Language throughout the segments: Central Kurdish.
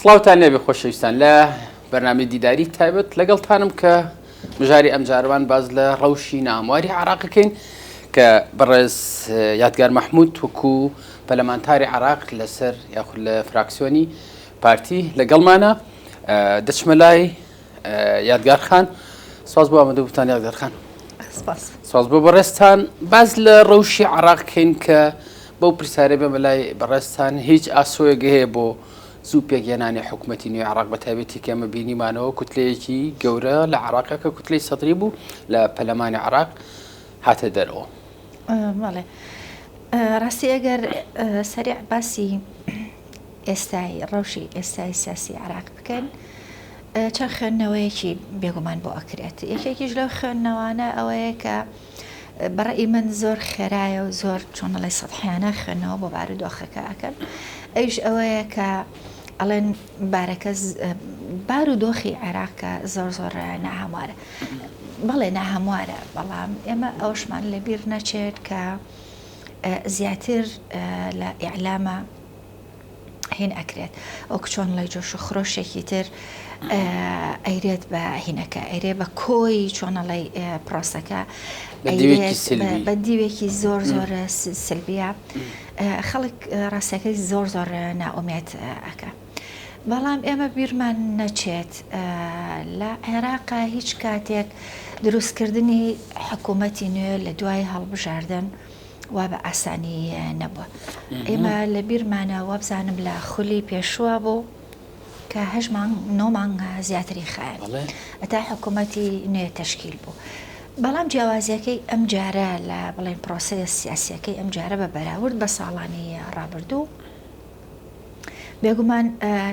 سڵاوتان لێبێ خۆشەویستان لە بەرنامەی دیداری تایبەت لەگەڵتانم کە مژاری ئەمجارەوان باز لە ڕەوشی نامواری عراقەکەین کە بەڕێز یادگار مححمود توکو پەلەمانتاری عراق لەسەر یاخود لە فراکسیۆنی پارتی لەگەڵمانە دەچمە لای یادگار خان ساز بۆ ئەمەدە بوتان یادگار خان ساز بۆ بەڕێستان باز لە ڕەوشی عراق کەین کە بەو پرسیارە بێمە لای بەڕێستان هیچ ئاسۆیەک هەیە بۆ زوو پێکهێنانی حکوومەتتی نوێ عراق بە تایبێتی کەمە بینیمانەوە کوتلەیەکی گەورە لە عراقە کە کوتلەی سەدری بوو لە پەلەمانی عراق هاتە دەرەوە ڕاستی ئەگەر سەریع باسی ئێستای ڕەوشی ئێستای سیاسی عێراق بکەین چەند خوێندنەوەیەکی بێگومان بۆ ئەکرێت یەکێکیش لەو خوێندنەوانە ئەوەیە کە بەڕێ من زۆر خێرایە و زۆر چۆنڵی سەحیانە خوێندنەوە بۆ بار و دۆخەکە ئەکەن ئەوش ئەوەیە کە ئەڵێن بارەکە بار و دۆخی عێراقکە زۆر زۆر ناهەموارە بەڵێ ناهەموارە بەڵام ئێمە ئەوشمان لەبیر نەچێت کە زیاتر لە ئیعلامە هین ئەکرێت وەک چۆن ڵی جۆش و خرۆشێکی تر ئەیرێت بە هینەکە ئەرێ بە کۆی چۆنەڵی پرۆسەکە بە دیوێکی زۆر زۆر سلبیە خەڵک ڕاستەکەی زۆر زۆر ناومێت ئەەکە. بەڵام ئێمە بیرمان نەچێت لە عێراقا هیچ کاتێک دروستکردنی حکوومەتی نوێ لە دوای هەڵبژاردن وا بە ئاسانی نەبووە. ئێمە لە بیرمانە وابزانم لە خولی پێشووە بوو کە هەش مانگ نۆ مانگ زیاتری خایەن ئەتا حکوومەتی نوێ تەشکیل بوو. بەڵام جیاوازیەکەی ئەم جارە لە بڵێن پرۆسەیە سیاسیەکەی ئەم جارە بە بەراورد بە ساڵانی ڕابردوو، بێگومان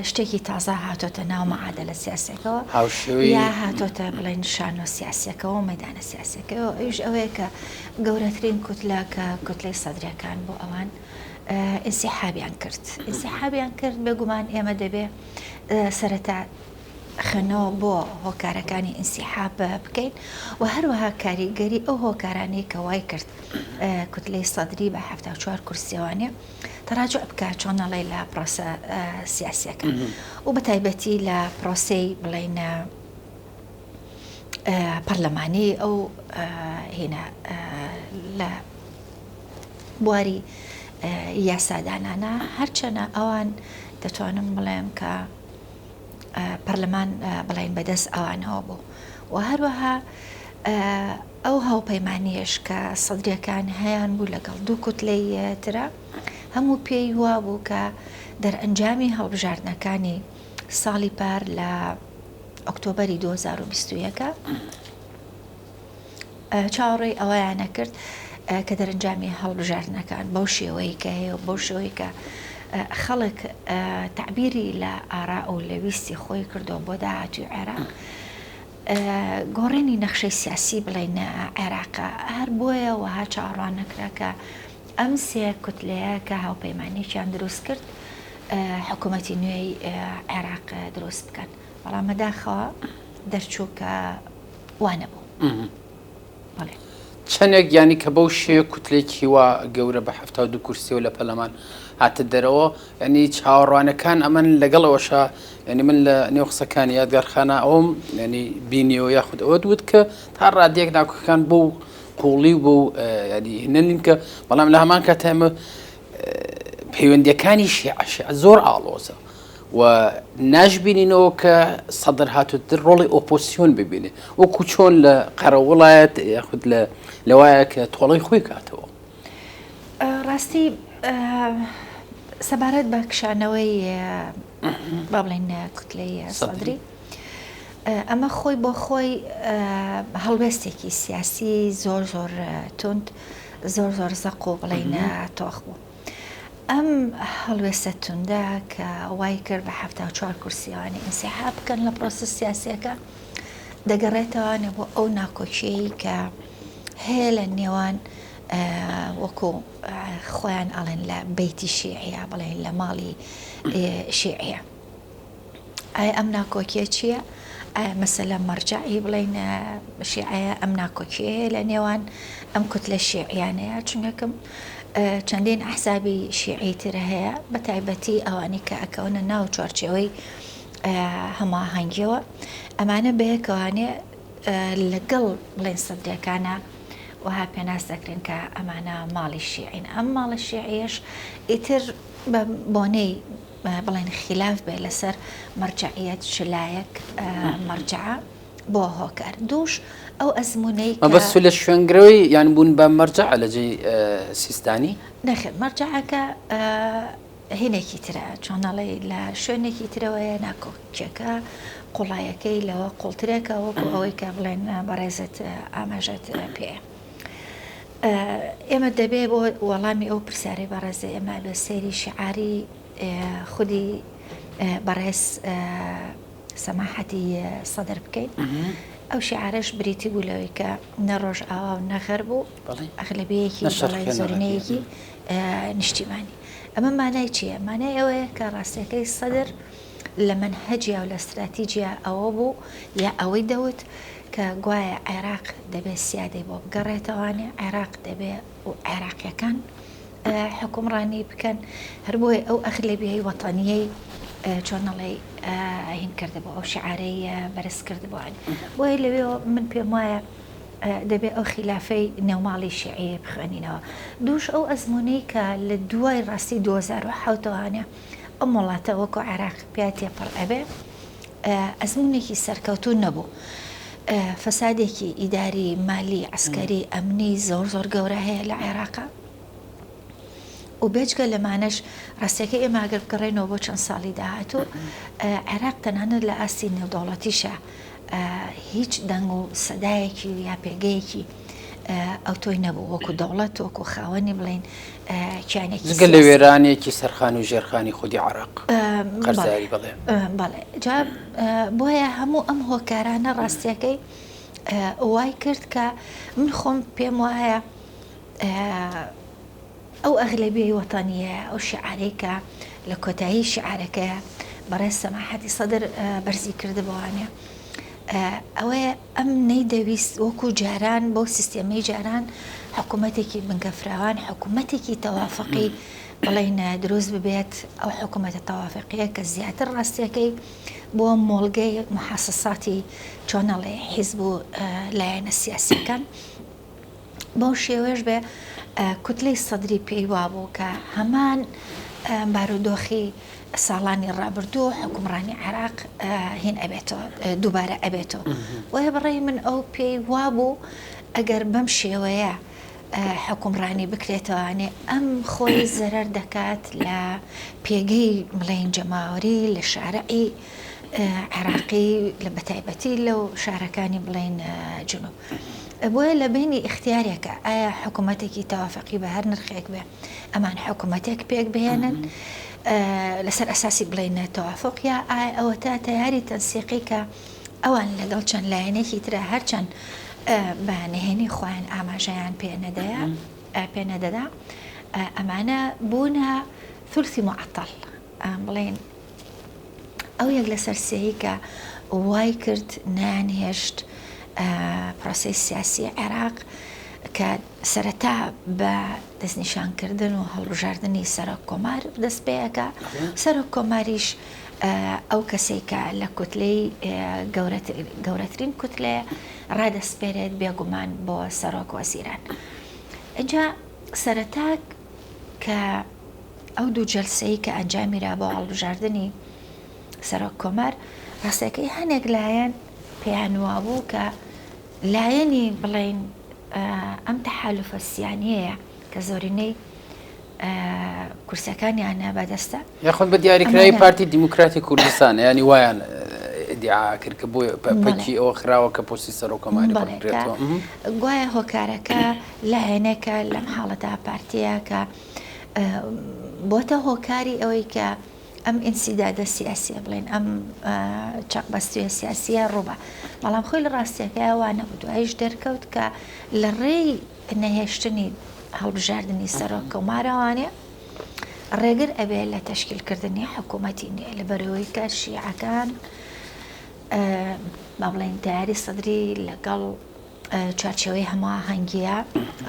شتێکی تازە هاتۆتە ناو مەعادەلە سیاسەکەەوە هاوشێوەی یا هاتۆتە بڵێن شانۆ سیاسەکەەوە مەدانە سیاسەکەەوە ئەوش ئەوەیە کە گەورەترین کوتلا کە کوتلەی سەدرەکان بۆ ئەوان ئینسیحابیان کرد ئینسیحابیان کرد بێگومان ئێمە دەبێ سەرەتا خوێنەوە بۆ هۆکارەکانی ئینسیحاب بکەین و هەروەها کاریگەری ئەو هۆکارانەی کە وای کرد کوتلەی سەدری بە ه چوار کورسێوانێ تەراجع بکات چۆن ئەڵێ لە پڕۆسە سیاسیەکە و بە تایبەتی لە پرۆسەی بڵێینە پەرلەمانی ئەو هێنا لە بواری یاسادانانە هەرچەنە ئەوان دەتوانم بڵێم کە پەرلەمان بڵین بەدەست ئەوانەوە بوو و هەروەها ئەو هاوپەیمانییەش کە سەدرییەکان هەیانبوو لەگەڵ دوو کوتلەی ترە، هەموو پێی وابوو کە دەرئەنجامی هەڵبژاردنەکانی ساڵی پار لە ئۆکتۆبەری دوو هەزار و بیست و یەک چاوەڕێی ئەوەیان نەکرد کە دەرەنجامی هەڵبژاردنەکان بەو شێوەیە کە هەیە و بەو شێوەیە کە خەڵک تەعبیری لە ئاراء و لە ویستی خۆی کردووە بۆ داهاتووی عێراق. گۆڕێنی نەخشەی سیاسی بڵێین عێراق، هەر بۆیە وەها چاوەڕوان نەکرا کە ئەم سێ کوتلەیە کە هاوپەیمانیەکیان دروست کرد حکوومەتی نوێی عێراق دروست بکەن، بەڵام بەداخەوە دەرچوو کە وانەبوو. بەڵێ. چەندێک یانی کە بەو شێوەیە کوتلەیەکی وا گەورە بە حەفتا و دوو کورسییەوە لە پەرلەمان هاتە دەرەوە، یانی چاوەڕوانەکان ئەمەن، لەگەڵ ئەوەشا یانی من لە نێو قسەکانی یادگار خانا ئەوەم یانی بینیەوە یاخود ئەوەت وت کە تا ڕادەیەک ناکۆکەکان بەو قووڵی و بەو یانی هێنە نین کە بەڵام لە هەمان کاتە ئێمە پەیوەندییەکانی شیعە شیعە زۆر ئاڵۆزە. و ناشبینینەوە کە سەدر هاتوتر ڕۆڵی ئۆپۆسیۆن ببینێ وەکو چۆن لە قەرەوڵایەت یاخود لە لەوایە کە تۆڵەی خۆی کاتەوە ڕاستی سەبارەت بە کشانەوەی با بڵێن کوتلەی سەدری ئەمە خۆی بۆ خۆی هەڵوێستێکی سیاسی زۆر زۆر تونند زۆر زۆر زەق و بڵێنە تۆخ بوو. ئەم هەڵوێستە توندە کە وای کرد بە حەفتا و چوار کورسییەوانی ئینسیحاب بکەن لە پرۆسە سیاسییەکە دەگەڕێتەوانێ بۆ ئەو ناکۆکیەی کە هەیە لە نێوان وەکو خۆیان ئەڵێن لە بیتی شیعە بڵێن لە ماڵی شیعە. ئایا ئەم ناکۆکیە چییە؟ ئایا مەسەلە مەرجعی بڵین شیعەیە ئەم ناکۆکیەیە لە نێوان ئەم کوت لە شیعیانەیە چونەکەم چەندین ئەحسابی شیعی ترە هەیە بە تایبەتی ئەوانی کە ئەکەونە ناو چوارچەوەی هەماهەنگیەوە ئەمانە بەیەکەوانێ لەگەڵ بڵێن سەدرەکانە وها پێناس دەکرێن کە ئەمانە ماڵی شیعین ئەم ماڵە شیعیش ئیتر بۆنەی بڵێن خیلاف بێ لەسەر مەرجەعیەت چ لایەک مەرجەعە بۆ هۆکار دووش ئەو ئەزمونەی بەس لە شوێنگرەوەی یان بوون بە مەرجە لە جێ سیستانی نەخێت مەرجەکە هینێکی ترە چۆنەڵی لە شوێنێکی ترەوەیە ناکۆکیەکە قوڵایەکەی لەوە قوڵترێکە وەکو ئەوەی کە بڵێن بەڕێزت ئاماژەت پێ. ئێمە دەبێ بۆ وەڵامی ئەو پرسیارەی بەڕێزی ئێمە بێ سەیری شعاری خودی بەڕێز سەماحەتی سەدر بکەین ئەو شعارش بریتی بوو لەوەی کە نە ڕۆژ ئاوا و نەغەر بوو ئەغلبەیەکی زۆرینەیەکی نیشتیمانی ئەمە مانای چییە مانای ئەوەیە کە ڕاستەکەی سەدر لە مەنهەجیا و لە ستراتیجیا ئەوە بوو یا ئەوەی دەوت کە گوایە عێراق دەبێ سیادەی بۆ بگەڕێتەوانێ عێراق دەبێ و عێراقیەکان حکومڕانی بکەن هەربۆی ئەو ئەخلێبیی وەتەنیەی چۆنەڵی هین کرد بۆ ئەو شعارەی بەرز کرد بۆن بۆیە لەوێ من پێم وایە دەبێ ئەو خلافەی نێوماڵی شعەیە بخوێنینەوە دووش ئەو ئەزمونەی کە لە دوای ڕاستی 2010وانە ئەم وڵاتە وەکو عێراق پیا تێپەڕ ئەبێ ئەزمونێکی سەرکەوتو نەبوو فەسادێکی ئیداری مالی عسکەری ئەمنی زۆر زۆر گەورە هەیە لە عێراقا و بێجگە لەمانەش ڕاستەکە ئێماگەر بگەڕێنەوە بۆ چەند ساڵی داهاتوو عێراق تەنانەت لە ئاستی نێودەوڵەتیشە هیچ دەنگ و سەدایەکی و یا پێگەیەکی ئەوتۆی نەبوو وەکو دەوڵەت وەکو خاوەنی بڵێن کیانێکی جگە لە وێرانێکی سەرخان و ژێرخانی خودی عراق قەرزاری بڵێ بەڵێ جا بۆیە هەموو ئەم هۆکارانە ڕاستیەکەی وای کرد کە من خۆم پێم وایە ئەو ئەغلەبیەی وەتەنیەیە ئەو شیعارەی کە لە کۆتایی شیعارەکەیا بەڕێز سەماحەتی سەدر بەرزی کردبوانە ئەوەیە ئەم نەیدەویست وەکو جاران بەو سیستێمەی جاران حکوومەتێکی بنکە فراوان حکوومەتێکی تەوافقی بڵێینە دروست ببێت ئەو حکوومەتە تەوافقیە کە زیاتر ڕاستیەکەی بۆ مۆڵگەی محەسەساتی چۆنەڵێ حیزب و لایەنە سیاسیەکان بەو شێوەیەش بێ کوتلەی سەدری پێی وابوو کە هەمان بارودۆخی ساڵانی ڕابردوو و حکومڕانی عێراق هین ئەبێتەوە دووبارە ئەبێتەوە وە بەڕێی من ئەو پێی وابوو ئەگەر بەم شێوەیە حکومڕانی بکرێتەوانێ ئەم خۆی زەرەر دەکات لە پێگەی بڵێن جەماوەری لە شارعی عێراقی لە بەتایبەتی لەو شارەکانی بڵێن جنوب بۆیە لە بەینی ئیختیارێکە ئایا حکوومەتێکی تەوافەقی بە هەر نرخێک بێ ئەمان حکوومەتێک پێک بهێنن لەسەر ئەساسی بڵێ نەتەوافق یا ئایا ئەوە تا تەیاری تەنسیقی کە ئەوان لەگەڵ چەند لایەنێکی ترە هەرچەند بە نهێنی خۆیان ئاماژەیان پێ نەدەیە پێ نەدەدا ئەمانە بوونە ثلثی معطل بڵێن ئەو یەک لەسەر سێی کە وای کرد نەیان هێشت پرۆسەی سیاسی عێراق کە سەرەتا بە دەستنیشانکردن و هەڵبژاردننی سەرۆک کۆمار دەست پێەکە سەرۆک کۆماریش ئەو کەسێکە لە کوتلەی گەورەترین کوتلێ ڕادەسپێرێت بێگومان بۆ سەرۆک وەزیران. ئەجا سەرەتاک کە ئەو دوو جەلسەی کە ئەنجامیرا بۆ هەڵبژاردنی سەرۆک کۆمار ڕاستەکەی هەنێک لایەن پێیان وابوو کە لایەنی بڵین ئەم تەحالفە سیانەیە کە زۆرینەی کورسەکانیانە بەدەستە یاخود بە دیاریکراوی پارتی دیموکراتی کوردستان ینی وایان دیعاکرد کە بۆ پەکی ئەوە خراوە کە پۆسی سەرۆکەمانی گوایە هۆکارەکە لایەنێکە لەم حاڵەتە پارتیە کە بۆتە هۆکاری ئەوەی کە ئەم ئینسیدادە سیاسیە بڵێن ئەم چەقبەستوە سیاسیە ڕووبە بەڵام خۆی لە ڕاستیەکەی وانە و دوایش دەرکەوت کە لە ڕێی نەهێشتنی هەڵبژاردننی سەرۆک کەمارەوانێ ڕێگر ئەبێ لە تەشکیلکردنی حکوومەتی نێ لە بەرەوەی کە شیعەکان با بڵێن تاری سەدری لەگەڵ چوارچێوەی هەماهەنگییە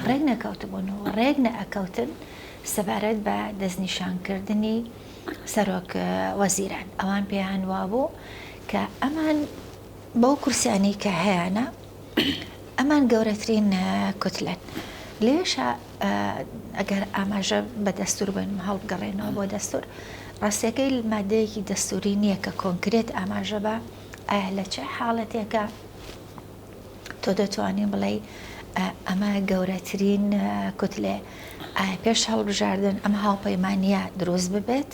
ڕێک نەکەوتبوون و ڕێک نەئەکەوتن سەبارەت بە دەستنیشانکردنی سەرۆک وەزیران ئەوان پێیان وابوو کە ئەمان بەو کورسیانی کە هەیەە ئەمان گەورەترین کوتلەن لێشە ئەگەر ئاماژە بە دەستور بن هەڵبگەڕێنەوە بۆ دەستور ڕاستەکەی مادەیەکی دەستوری نییە کە کۆنکرێت ئاماژە بە ئایا لە چه حاڵەتێکە تۆ دەتوانی بڵێی ئەمە گەورەترین کوتلەیە، ئایا پێش هەڵبژاردن ئەم هاوپەیمانییە دروست ببێت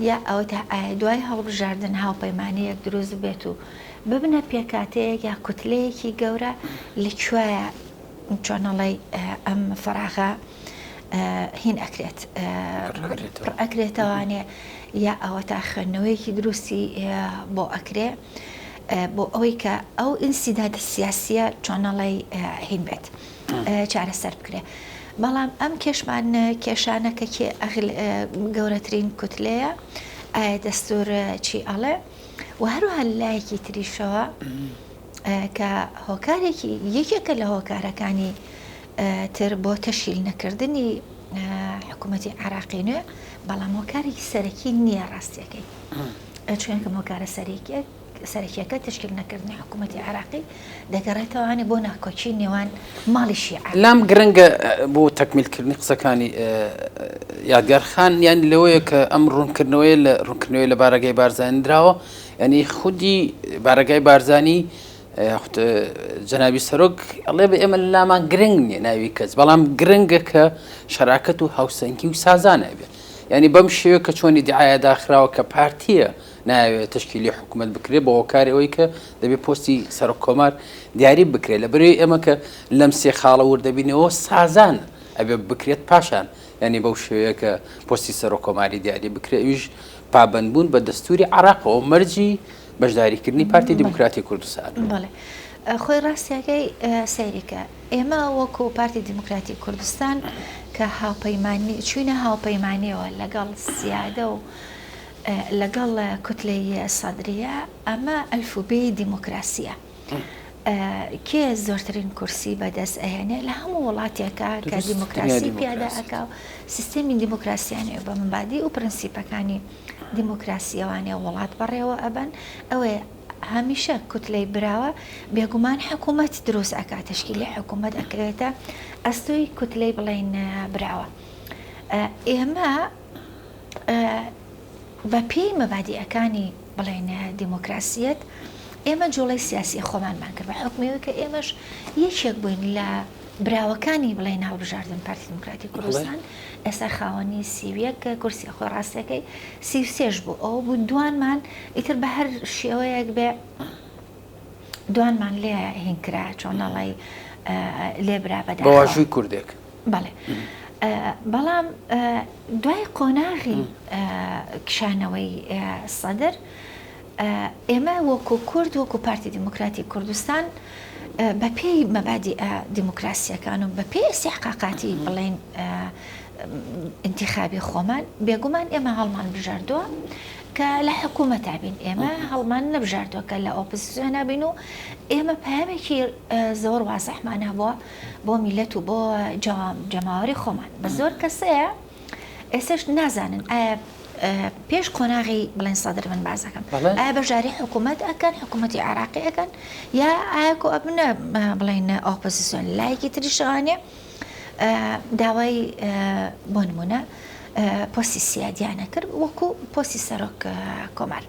یا ئەوەتا ئایا دوای هەڵبژاردن هاوپەیمانییەک دروست بێت و ببنە پێکاتەیەک یا کوتلەیەکی گەورە لە کوێیە چۆنەڵی ئەم فراغە هین ئەکرێت ئەکرێتەوانێ یا ئەوە تا خوێندنەوەیەکی دروستی بۆ ئەکرێ بۆ ئەوەی کە ئەو ئینسیدادە سیاسیە چۆنەڵی هین بێت چارەسەر بکرێ بەڵام ئەم کێشمان کێشانە کە گەورەترین کوتلەیە ئایا دەستور چی ئەڵێ و هەروها لایەکی تریشەوە کە هۆکارێکی یەکێکە لە هۆکارەکانی تر بۆ تەشیل نەکردنی حکوومەتی عراقی نوێ بەڵام هۆکارێکی سەرەکی نییە ڕاستیەکەی. چونکە هۆکارە سەرەکیەکە تشکیل نەکردنی حکوومەتی عراقی دەگەڕێتەوانێ بۆ ناکۆکی نێوان ماڵی شیع لام گرنگە بۆ تەکمیلکردنی قسەکانی یادگارخان یان لەوەیە کە ئەم ڕوونکردنەوەی لە ڕوونکردنەوەی لە بارەگەی بارزانندراوە ینی خودی بارەگای بارزانی جەناوی سەرۆک ئەڵێ بە ئێمە لامان گرنگ نیە ناوی کەس بەڵام گرنگە کە شەراکەت و هاوسەنگی و سازانە بێت یانی بەم شێوەیە کە چۆن ئیدعایە داخراوە کە پارتییە نایەوێت تشکیلی حکوومەت بکرێت بە هۆکاری ئەوەی کە دەبێت پۆستی سەرۆک کۆمار دیاری بکرێت لە بەرەی ئێمە کە لەم سێ خاڵە وردەبینەوە سازان ئەبێ بکرێت پاشان یعنی بەو شێوەیە کە پۆستی سەرۆک کۆماری دیاری بکرێت ئیش پابندبوون بە دەستوری عراقەوە مەرجی بەشداریکردنی پارتی دیموکراتی کوردستان. خۆی ڕاستیەکەی سەیرکە ئێمە وەکو پارتی دیموکراتی کوردستان کە هاوپەیمانی چوینە هاوپەیمانیەوە لەگەڵ سیادە و لەگەڵ کوتلەی سەدریە ئەمە ئەلفوبێی دیموکراسیە کێ زۆرترین کورسی بەدەست ئەهێنێ لە هەموو وڵاتێکە کە دیموکراسی پیادا ئەکا و سیستەمی دیموکراسیانێ بە مبادی و پرەنسیپەکانی دیموکراسیەوانێ وڵات بەڕێوە ئەبەن ئەوێ هەمیشە کوتلەی براوە بێگومان حکومەت دروست ئەکا تەشکیلی حکومەت ئەکرێتە ئەستۆی کوتلەی بڵین براوە ئێمە بە پێی مەبادیەکانی بڵێن دیموکراسیەت ئێمە جوڵی سیاسی خۆمانمان کرد بە حکمەوە کە ئێمەش یەکێک بووین لە براوەکانی بڵێن هەڵبژاردن پارتی دیموکراتی کوردستان ئێستا خاوەنی سیویەک کورسی خۆ ڕاستەکەی سی سێش بوو ئەو بوو دوانمان ئیتر بە هەر شێوەیەک بێ دوانمان لێ هینکرا چۆنەڵی لێ برا بەدا بەواژووی کوردێک بەڵێ بەڵام دوای قۆناغی کشانەوەی سەدر ئێمە وەکو کورد وەکو پارتی دیموکراتی کوردستان بە پێی مەبادیئە دیموکراسیەکان و بە پێی ئسیحقاقاتی بڵین ئینتیخابی خۆمان بێگومان ئێمە هەڵمان بژاردووە کە لە حکوومەت تابین ئێمە هەڵمان نەبژاردووە کە لە ئۆپسیۆن نابین و ئێمە پامێکی زۆر وازەحمان هەبووە بۆ میلەت و بۆ جەماوەری خۆمان بە زۆر کەسەیە ئێسش نازانن ئایا پێش قۆناغی بڵێن سەدر من باسەکەم ئایا بەشداری حکوومەت ئەکەن حکوومەتی عراقی ئەەکەن یا ئاکۆ ئەبنە بڵێن ئۆپۆزیسیۆن لایەکی تری شوانێ داوای بۆ نمونە پۆسی سیادیانە کرد وەکو پۆسی سەرۆک کۆمار.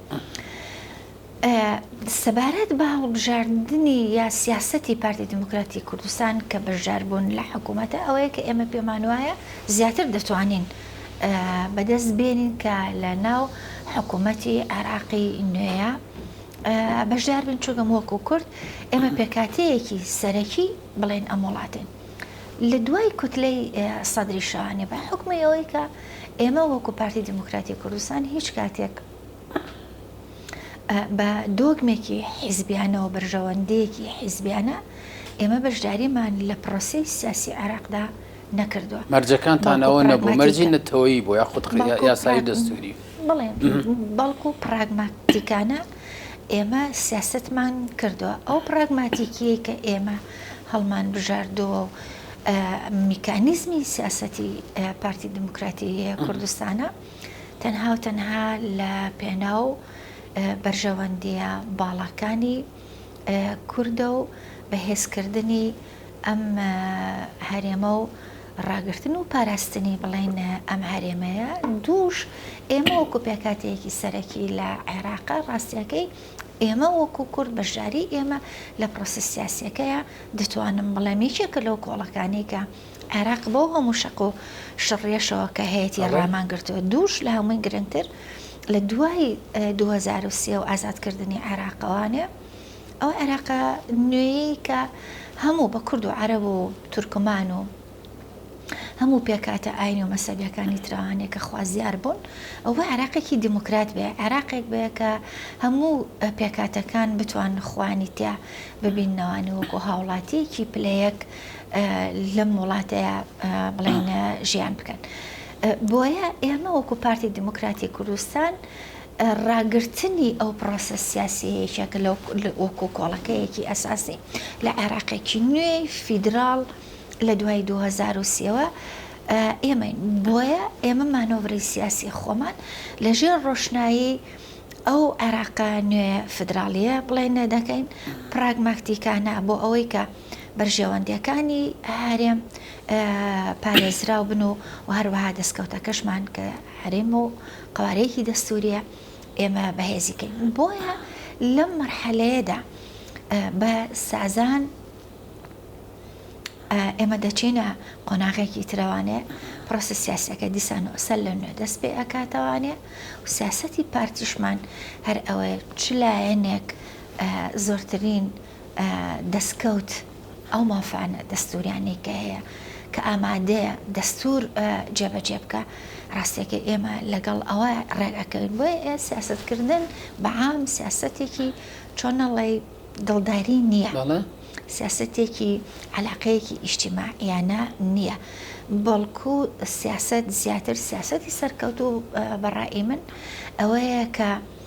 سەبارەت بە هەڵبژاردنی یا سیاسەتی پارتی دیموکراتی کوردستان کە بەشداربوون لە حکوومەتە ئەوەیە کە ئێمە پێمان وایە زیاتر دەتوانین بەدەست بێنین کە لە ناو حکوومەتی عێراقی نوێیە بەشدار بین چووگەم وەکو کورد ئێمە پێکاتەیەکی سەرەکی بڵێن ئەم وڵاتین. لە دوای کوتلەی سەدری شانێ بە حکومی ئەوەی کە ئێمە وەکو پارتی دیموکراتی کوردستان هیچ کاتێک بە دۆگمێکی حیزبیانە و بەرژەوەندییەکی حیزبیانە ئێمە بەشداریمان لە پرۆسەی سیاسی عێراقدا نەکردووە. مەرجەکانتان ئەوە نەبوو، مەرجی نەتەوەیی بوو یاخود یاسایی دەستووری؟ بەڵێ، بەڵکو پراگماتیکانە ئێمە سیاسەتمان کردووە. ئەو پراگماتیکییەی کە ئێمە هەڵمانبژاردووە و میکانیزمی سیاسەتی پارتی دیموکراتی کوردستانە، تەنها و تەنها لە پێناو بەرژەوەندییە باڵاکانی کوردە و بەهێزکردنی ئەم هەرێمە و ڕاگرتن و پاراستنی بڵێن ئەم هەرێمەیە دووش ئێمە وەکو پێکاتەیەکی سەرەکی لە عێراق ڕاستیەکەی ئێمە وەکو کورد بەشداری ئێمە لە پرۆسە سیاسەکەیە دەتوانم بڵێم یەکێکە لەو کۆڵەکانی کە عێراق بەو هەموو شەق و شڕیەشەوە کە هەیەتی ڕامان گرتووە، دووش لە هەمووی گرنگتر لە دوای دوو هەزار و سێ و ئازادکردنی عێراقەوانێ ئەو عێراقە نوێیەی کە هەموو بە کورد و عەرەب و تورکمان و هەموو پێکهاتە ئاینی و مەسەبیەکانی تراوانێ کە خوازیار بوون ئەوە عێراقێکی دیموکرات بێ عێراقێک بێ کە هەموو پێکاتەکان بتوان خوانی تیا ببینەوانی وەکو هاوڵاتیەکی پلەیەک لەم وڵاتەیە بڵێن ژیان بکەن بۆیە ئێمە وەکو پارتی دیموکراتی کوردستان ڕاگررتنی ئەو پرۆسە سیاسەیەکە کە لەو وەکو کۆڵەکەیەکی ئەساسی لە عێراقێکی نوێی فیدرال لە دوای 2023ەوە ئێمە بۆیە ئێمە مانۆڤری سیاسی خۆمان لەژێر ڕۆشنایی ئەو عێراقا نوێ فدراالیە بڵێ نەدەکەین پراگماکتیکانە بۆ ئەوەی کە بەرژەوەندییەکانی هەرێم پارێزراو بن و و هەروەها دەستکەوتەکەشمان کە هەرێم و قوارەیەکی دەستوریە ئێمە بەهێزیکەین بۆیە لەم مەرحەلەیەدا بە سازان ئێمە دەچینە قۆناغێکی ترەوانێ پرۆسی سیاسەکە دیسان ئەسەر لە نوێ دەست پێ ئەکاتەوانێ و سیاستی پارتیشمان هەر ئەوەیە چ لایەنێک زۆرترین دەستکەوت ئەو مافە دەستووریانەی کە هەیە کە ئامادەیە دەستور جێبەجێ بکە ڕاستەکە ئێمە لەگەڵ ئەوە ڕێگەکەوین بۆ سیاستکردن بەعام سیاستێکی چۆنەڵی دڵداری نییە سیاستێکی علاقەیەکی ئیشتیماعیانە نییە بەڵکو سیاست زیاتر سیاستی سەرکەوت و بەڕای من ئەوەیە کە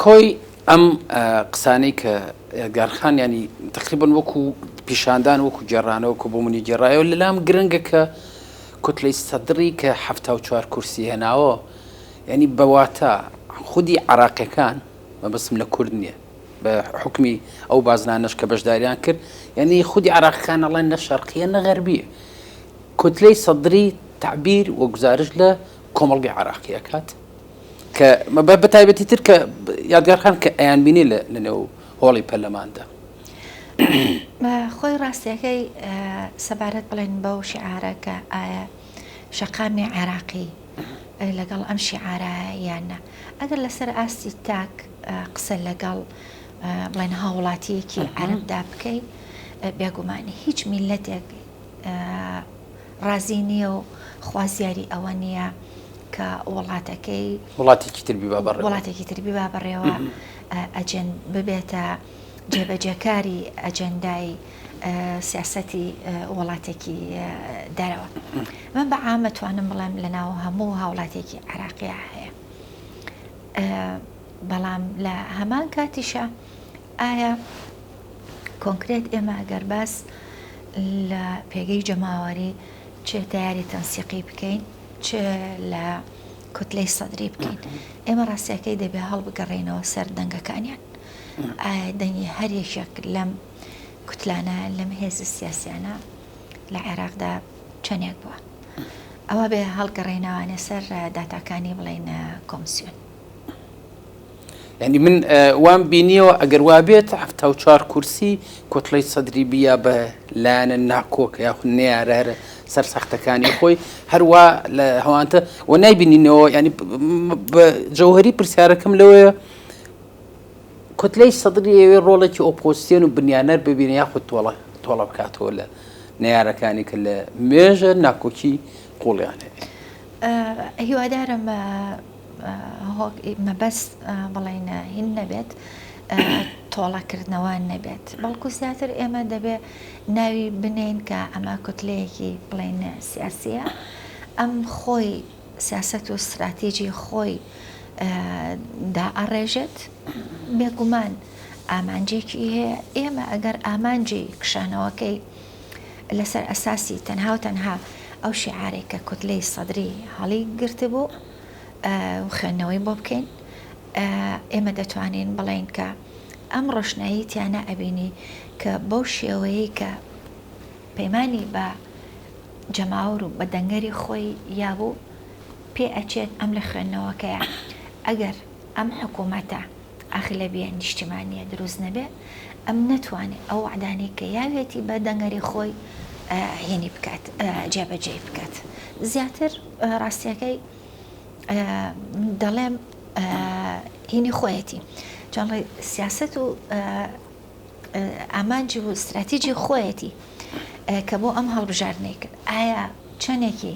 کۆی ئەم قسانەی کە ئێلگارخان یانی تقریبا وەکو پیشاندان وەکو گێڕانەوە کە بۆ منی گێڕایەوە لەلام گرنگە کە کوتلەی سەدڕی کە حەفتا و چوار کورسی هێناوە یعنی بەواتە خودی عراقیەکان مەبەستم لە کورد نییە بە حکمی ئەو بازنانەش کە بەشداریان کرد یعنی خودی عراقیەکان ئەڵێن نە شەرقیە نە غەربیە کوتلەی سەدری تعبیر و گزارش لە کۆمەڵگەی عراقیەکات کە بە تایبەتی تر کە یادگارخان کە ئەیانبینی لە نێو هۆڵی پەرلەماندا خۆی ڕاستیەکەی سەبارەت بڵێن بەو شعارە کە ئایا شەقامی عێراقی لەگەڵ ئەم شعارە یانە ئەگەر لەسەر ئاستی تاک قسە لەگەڵ بڵێن هاوڵاتیەکی عربدا بکەی بێگومانی هیچ میلەتێک ڕازی نییە و خوازیاری ئەوە نییە کە وڵاتەکەی وڵاتێکی تر بیبا بەڕێوە. وڵاتێکی تر بیبا بەڕێوە ئەجێن ببێتە جێبەجێکاری ئەجێندای سیاسەتی وڵاتێکی دەرەوە من بە عامە توانم بڵێم لە ناو هەموو هاوڵاتێکی عراقیە هەیە بەڵام لە هەمان کاتیشە ئایا کۆنکرێت ئێمە گەر باس لە پێگەی جەماوەری چێ تیاری تەنسیقی بکەین چ لە کوتلەی سەدری بکەین، ئێمە ڕاستییەکەی دەبێ هەڵبگەڕێینەوە سەر دەنگەکانیان، ئایا دەنگی هەر یەکێک لەم کوتلانە، لەم هێزە سیاسییانە لە عێراقدا چەندێک بووە؟ ئەوە بێ هەڵگەڕێینەوانە سەر داتاکانی بڵێن کۆمسیۆن. یعنی من وام بینیەوە ئەگەر وابێت هەفتا و چوار کورسی کۆتڵی سەدری بیا بە لایەنە ناکۆک یاخ نارە هەرە سەر سەختەکانی خۆی هەروە لە هەوانتە و نایبینینەوە ینی جەوهری پرسیارەکەم لەوەیە کوتلەی سەدری ئەوێ ڕۆڵێکی ئۆپۆسیۆن و بنیانەر ببینە یاخود تۆڵە تۆڵە بکاتەوە لە نارەکانی کە لە مێژە ناکۆکی قوڵیان هەیە هیوادارم هۆک مەبەست بڵین هین نەبێت تۆڵە کردنەوە نەبێت بەڵکو زیاتر ئێمە دەبێ ناوی بنین کە ئەمە کوتلەیەکی بڵین سیاسیە ئەم خۆی سیاست و استراتیجی خۆی دا ئەڕێژێت بێگومان ئامانجێکی هەیە ئێمە ئەگەر ئامانجی کشانەوەکەی لەسەر ئەساسی تەنها و تەنها ئەو شیعارەی کە کوتلەی سەدری هەڵی گرتبوو و خوێندنەوەی بۆ بکەین ئێمە دەتوانین بڵێین کە ئەم ڕۆشنایی تیانە ئەبینی کە بەو شێوەیە کە پەیمانی بە جەماور و بە دەنگەری خۆی یابوو پێ ئەچێت ئەم لە خوێندنەوەکەیە ئەگەر ئەم حکوومەتە ئەغلەبیە نیشتیمانیە دروست نەبێ ئەم نەتوانێ ئەو وەعدانەی کە یاویەتی بە دەنگەری خۆی هینی بکات جێبەجێی بکات زیاتر ڕاستیەکەی دەڵێم هینی خۆیەتی چۆنڵی سیاست و ئامانج و استراتیجی خۆیەتی کە بۆ ئەم هەڵبژاردنەی کرد ئایا چەندێکی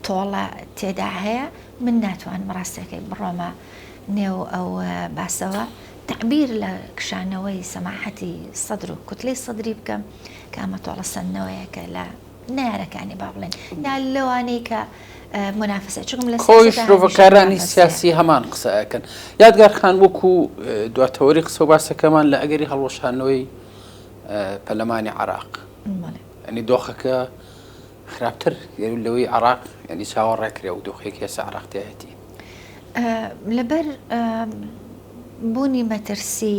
تۆڵە تێدا هەیە من ناتوانم ڕاستەکەی بڕۆمە نێو ئەو باسەوە تەعبیر لە کشانەوەی سەماحەتی سەدر و کوتلەی سەدری بکەم کە ئەمە تۆڵە سندنەوەیەکە لە نارەکانی با بڵێن یا لەوانەی کە منافسە چکم لە خۆی شرۆڤەکارانی سیاسی هەمان قسەکەن یادگار خان وەکو دواتەوەری قسە و باسەکەمان لە ئەگەری هەڵوەشانەوەی پەلەمانی عراق ئەنی دۆخەکە خراپتر لەوەی عراق ینی چاوە ڕێکرێ و دۆخێک هێسە عراقتیایەتی لەبەر بوونی مەترسی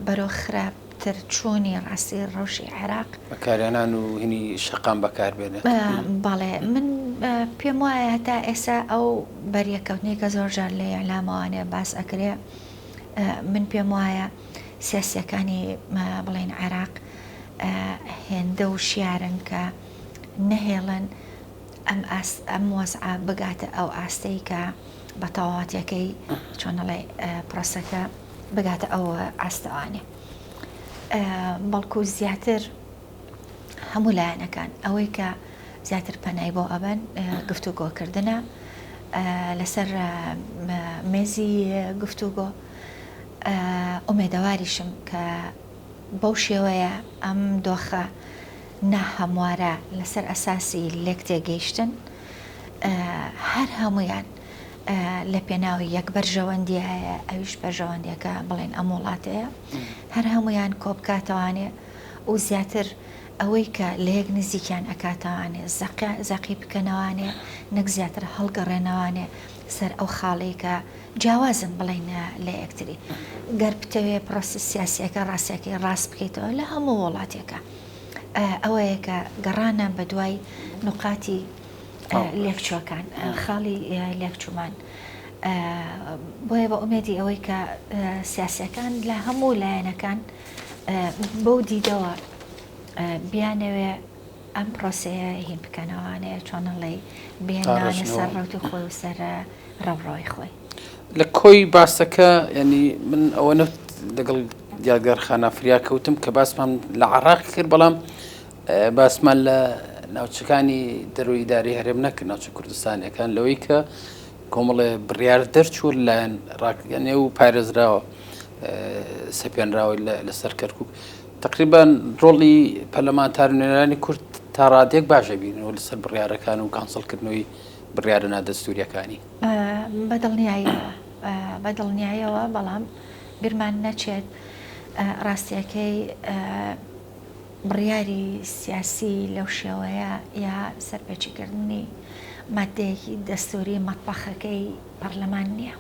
بەرەو خراپ تر چۆنی ڕاستی ڕەوشی عێراق بەکارێنان و هینی شەقام بەکاربێنێت بەڵێ من پێم وایە هەتا ئێسا ئەو بەریەکەوتنی کە زۆر جار لە یەلامەوانێ باس ئەکرێ من پێم وایە سیاسییەکانی بڵێین عێراق هێندە وشیارن کە نەهێڵن ئەم وەزعە بگاتە ئەو ئاستەی کە بە تەواوەتەکەی چۆنەڵێ پرۆسەکە بگاتە ئەو ئاستەوانێ بەڵکو زیاتر هەموو لایەنەکان ئەوەی کە زیاتر پەنای بۆ ئەبەن گفتوگۆکردە لەسەر مێزی گفتوگۆ ئومێدەواریشم کە بەو شێوەیە ئەم دۆخە ناهەموارە لەسەر ئەساسی لێک تێگەیشتن هەر هەمویان لە پێناوی یەک بەرژەوەندی هەیە ئەویش بەرژەوەندیەکە بڵێن ئەم وڵاتەیە هەر هەمویان کۆبکاتەوانێ و زیاتر ئەوەی کە لە یەک نزیکیان ئەکاتەوانێ زەقی بکەنەوانێ نەک زیاتر هەڵگەڕێنەوانێ سەر ئەو خاڵێکە جیاوازن بڵێین لە یەکتری. گەر بتەوێ پرۆسە سیاسییەکە ڕاستییەکەی ڕاست بکەیتەوە لە هەموو وڵاتێکا ئەوەیە کە گەڕانە بە دوای نقاتی لێکچووەکان خاڵی لێکچوومان. بۆیە بە ئومێدی ئەوەی کە سیاسەکان لە هەموو لایەنەکان بەو دیدەوە بیانەوێ ئەم پرۆسەیە هی بکەنەوانەیە چۆنەڵی بێنانە سەر ڕوتی خۆی و سەر ڕەوڕۆی خۆی لە کۆی باسەکە ینی من ئەوە نەوت لەگەڵ دیارگەر خانافریا کەوتم کە باسمان لە عراق کرد بەڵام باسمان لە ناوچەکانی دەروی داری هەرێم نەکە ناوچە کوردستانەکان لەوەی کە کۆمەڵێ بڕیار دەرچوو لایەن ڕاکگەنێ و پارێزراوە سەپێنراوە لەسەر کەرکک تەقریبەن ڕۆڵی پەرلەمانتار و نوێنەرانی کورد تا ڕادێک باش دەبینەوە لەسەر بڕیارەکان و کانسڵکردنەوەی بڕیارە نادەستووریەکانی. بە دڵنیاییەوە بە دڵنیاییەوە، بەڵام بیرمان نەچێت ڕاستییەکەی بڕیاری سیاسی لەو شێوەیە یا سەرپێچیکردنی ماددەیەکی دەستووری مەتبەخەکەی پەرلەمان نییە.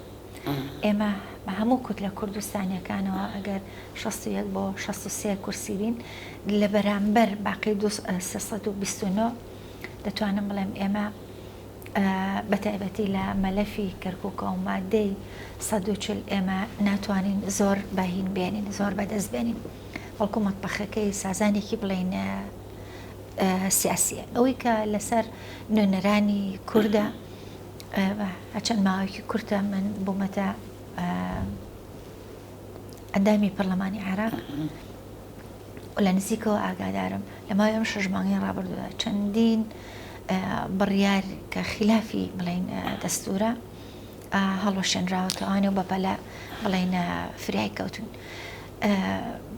ئێمە هەموو کوتلە کوردستانیەکانەوە ئەگەر شەست و یەک بۆ شەست و سێ کورسی بین لە بەرامبەر باقی دوو سێ سەد و بیست و نۆ دەتوانم بڵێم ئێمە بە تایبەتی لە مەلەفی کەرکووکە و مادەی سەد و چل ئێمە ناتوانین زۆر بەهین بێنین زۆر بەدەست بێنین بەڵکو مەتبەخەکەی سازانێکی بڵێین سیاسیە ئەوەی کە لەسەر نوێنەرانی کووردە چەند ماوەیەکی کورتە من بوومەتە ئەندامی پەرلەمانی عێراق لە نزیکەوە ئاگادارم لە ماوەی ئەم شەش مانگی ڕابردووە چەندین بڕیار کە خلافی بڵین دەستورە هەڵوەشێنراوەتەوانێ و بەپەلە بڵێن فریای کەوتون.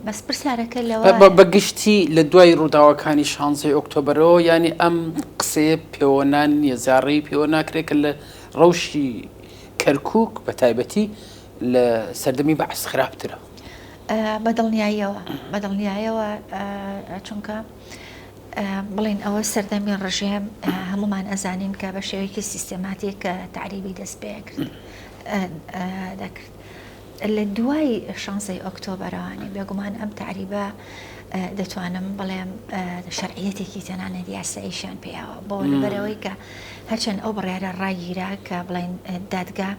بەس پرسیارەکە لەوە. بە گشتی لە دوای ڕووداوەکانی شانزەی ئۆکتۆبەرەوە یانی ئەم قسەیە پێوەنان نییە زاڕێی پێوە ناکرێت کە لە ڕەوشی کەرکک بە تایبەتی لە سەردەمی بەعس خراپترە. بە دڵنیاییەوە بە دڵنیایەوە چونکە بڵین ئەوە سەردەمی ڕژێم هەمومان ئەزانین کە بە شێوەیەکی سیستەماتیک کە تعریبی دەست پێ کرد دەکرد. لە دوای شانزەی ئۆکتۆبەرەوانی بێگومان ئەم تەعریبە دەتوانم بڵێم شەرعیەتێکی تەنانەت یاساییشیان پێیاوە بۆ لەبەرەوەی کە هەرچەند ئەو بڕیارە ڕاگیرا کە بڵین دادگا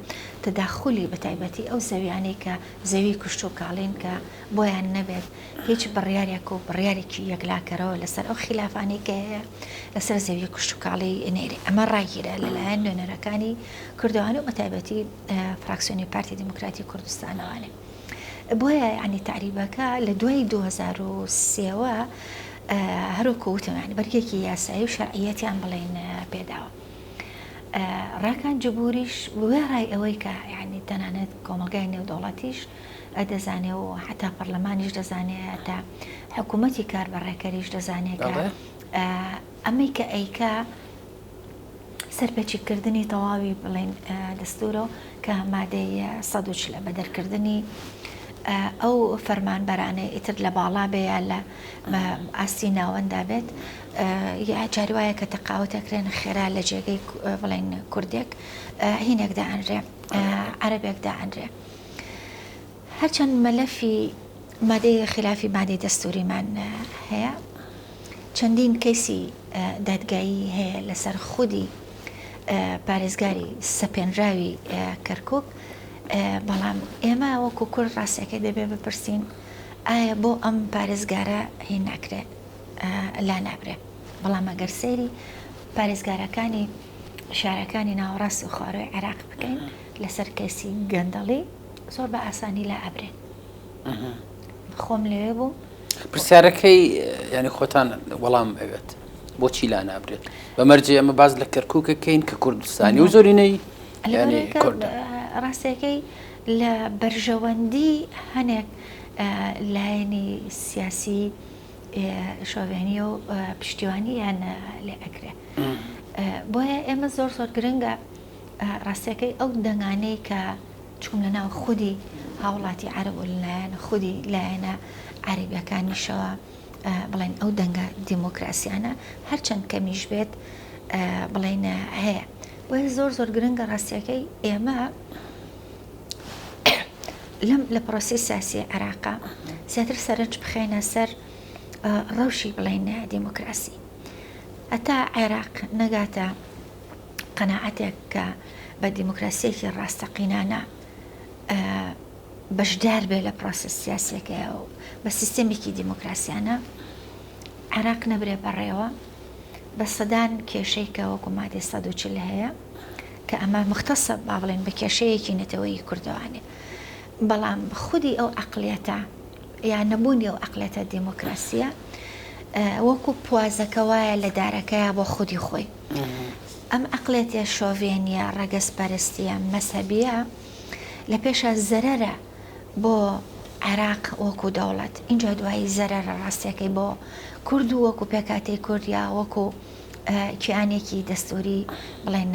تداخلی بە تایبەتی ئەو زەویانەی کە زەوی کوشت و کاڵین کە بۆیان نەبێت هیچ بڕیارێک و بڕیارێکی یەکلاکەرەوە لەسەر ئەو خلافانەی کە هەیە لەسەر زەوی کوشت و کاڵی نێری ئەمە ڕاگیرە لەلایەن نوێنەرەکانی کردوانە بە تایبەتی فراکسیۆنی پارتی دیموکراتی کوردستانەوە لێ بۆیە ینی تعریبەکە لە دوای 2023ەوە هەروکو وتەوەیان بەرگێکی یاسایی و شەرعیەتیان بڵێن پێداوە. ڕاکان جبوریش وێڕای ئەوەی کە ینی تەنانەت کۆمەلگای نێودەوڵەتیش دەزانێ و حتا پەرلەمانیش دەزانێ تا حکوومەتی کار بە ڕێکەریش دەزانێت ئەمەی کە ئەیکە سەرپێچی کردنی تەواوی بڵێن دەستورە و کە مادەی سەد و چلە بە دەرکردنی ئەو فەرمانبەرانەی ئیتر لە باڵا بێ یا لە ئاستی ناوەندا بێت یا جاری وایە کە تەقاوت ئەکرێن خێرا لە جێگەی بڵێن کوردێک هینێک دائەنرێ عەربێک دائەنرێ. هەرچەند مەلەفی مادەی خیلافی مادەی دەستووریمان هەیە، چەندین کەیسی دادگایی هەیە لەسەر خودی پارێزگاری سەپێنراوی کەرکووک، بەڵام ئێمە وەکو کورد ڕاستیەکەی دەبێ بپرسین ئایا بۆ ئەم پارێزگارە هی ناکرێ لا نابرێ؟ بەڵام ئەگەر سەیری پارێزگارەکانی شارەکانی ناوەڕاست و خواروی عێراق بکەین لەسەر کەیسی گەندەڵی، زۆر بە ئاسانی لا ئەبرێن خۆم لەوێ بووم. پرسیارەکەی یعنی خۆتان وەڵام ئەوێت بۆچی لا نابرێت بە مەرجێ ئەمە باز لە کەرکووکەکەین کە کوردستانی و زۆرینەی ڕاستەکەی لە بەرژەوەندی هەنێک لایەنی سیاسی شۆڤێنی و پشتیوانیان لێ ئەکرێ بۆیە ئێمە زۆر زۆر گرنگە ڕاستەکەی ئەو دەنگانەی کە چوون لە ناو خودی هاوڵاتی عەرەب و لەلایەن خودی لایەنە عەرەبیەکانیشەوە بڵێن ئەو دەنگە دیموکراسیانە هەرچەند کەمیش بێت بڵێن هەیە بۆیە زۆر زۆر گرنگە ڕاستیەکەی ئێمە لەم لە پرۆسی سیاسی عێراقا زیاتر سەرنج بخێنە سەر ڕەوشی بڵێن دیموکراسی هەتا عێراق نەگاتە قەناعەتێک کە بە دیموکراسیەکی ڕاستەقینانە بەشدار بێ لە پرۆسە سیاسەکەیە و بە سیستەمێکی دیموکراسیانە عێراق نەبرێ بەڕێوە بە سەدان کێشەی کە وەکو مادەی سە چل هەیە کە ئەمە مختەسە با بڵێن بە کێشەیەکی نەتەوەی کوردوانێ بەڵام خودی ئەو عقلەتە یا نەبوونی ئەو عقلەتە دیموکراسیە وەکو پوازەکە وایە لە دارەکەیە بۆ خودی خۆی ئەم عەقڵێتیە شۆڤێنیە ڕەگەز پەرستیە مەزهەبیە لە پێشا زەرەرە بۆ عێراق وەکو دەوڵەت ئینجا دوایی زەرەرە ڕاستیەکەی بۆ کورد و وەکو پێکاتی کوردیا وەکو کیانێکی دەستوری بڵێن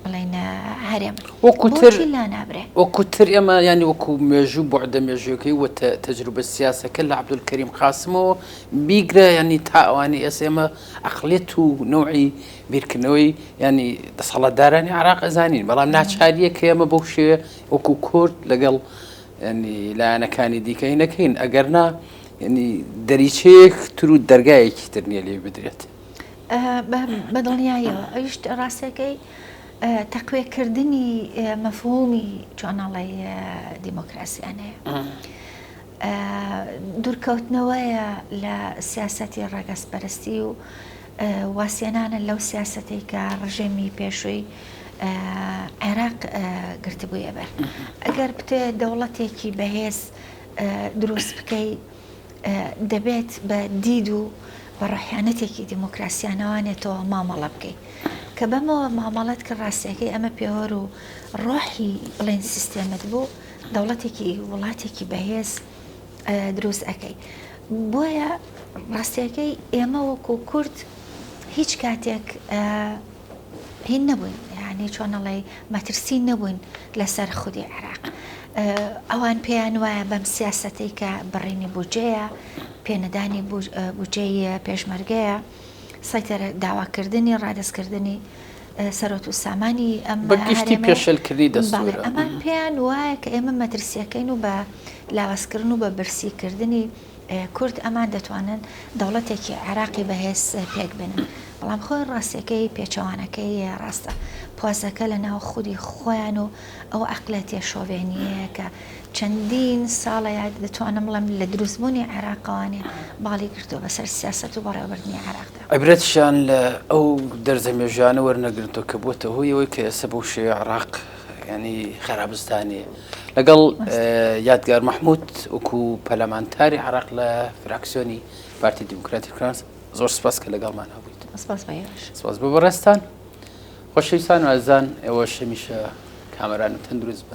بڵێن هەرێم وەکوتر لا نابرێ وەکوتر ئێمە ینی وەکو مێژوو بۆعدە مێژوەکەی وە تەجروبە سیاسەکە لە عبدول کەریم قاسمەوە بیگرە ینی تا ئەوانی ئێس ئێمە ئەقڵیەت و نەوعی بیرکردنەوەی یانی دەسەڵاتدارانی عێراق ئەزانین بەڵام ناچاریە کە ئێمە بەو شێوێ وەکو کورد لەگەڵ لایەنەکانی دیکەی نەکەین ئەگەر نا دەریچەیەک تر و دەرگایەکی تر نیە لێ بدرێت بەدڵنیایەوە ئەویشت ڕاستەکەی تەقوێکردنی مەفهومی چۆناڵی دیموکراسیانەیە. دوورکەوتنەوەیە لە سیاسەتی ڕەگەزپەرستی و وازهێنانە لەو سیاسەتەی کە ڕژێمی پێشووی عێراق گرتبوویە بەر ئەگەر بتێ دەوڵەتێکی بەهێز دروست بکەی دەبێت بە دید و بە ڕحیانەتێکی دیموکراسیانەوانێتەوە مامەڵە بکەیت کە بەمەوە مامەڵەت کە ڕاستەکەی ئەمە پێوەەر و ڕۆحی بڵێن سیستێمت بوو دەوڵەتێکی وڵاتێکی بەهێز دروست ئەەکەی بۆیە ڕاستیەکەی ئێمە وەکو کورد هیچ کاتێک هین نەبووین یعنی چۆنەڵی مەترسی نەبووین لەسەر خودی عێراق ئەوان پێیان وایە بەم سیاستەی کە بڕینی بجەیە پێنەدانی بجەیە پێشمەرگەیە سەیتەرە داواکردنی ڕادەستکردنی سەرۆت و سامانی ئەم بە گشتی پێشلکردنی دەستورە ئەمان پێیان وایە کە ئێمە مەترسیەکەین و بە لاوازکردن و بە برسیکردنی کورد ئەمان دەتوانن دەوڵەتێکی عێراقی بەهێز پێک بێنن بەڵام خۆی ڕاستەکەی پێچەوانەکەی ڕاستە پۆزەکە لە ناو خودی خۆیان و ئەو عقلەتێ شۆڤێنیەیە کە چەندین ساڵەیە دەتوانم بڵێم لە دروستبوونی عێراقەوانێ باڵی گرتووە بەسەر سیاست و بەڕێوەبردنی عێراقدا. عیبرەتیشان لە ئەو دەرزە مێژوویانە وەرنەگرنتەوە کە بووەتە هۆی ئەوەی کە ئێستا بەو شێوەیە عێراق ینی خەرابستانیە لەگەڵ یادگار مەحموود وەکو پەلامانتاری عراق لە فراکسیۆنی پارتی دیموکراتی فرانس زۆر سپاس کە لەگەڵمان هەبوویت سپاس بە بەڕێستان خۆشەویستان وازدان ئێوە شەمیشە کامەران و تەندروست بن.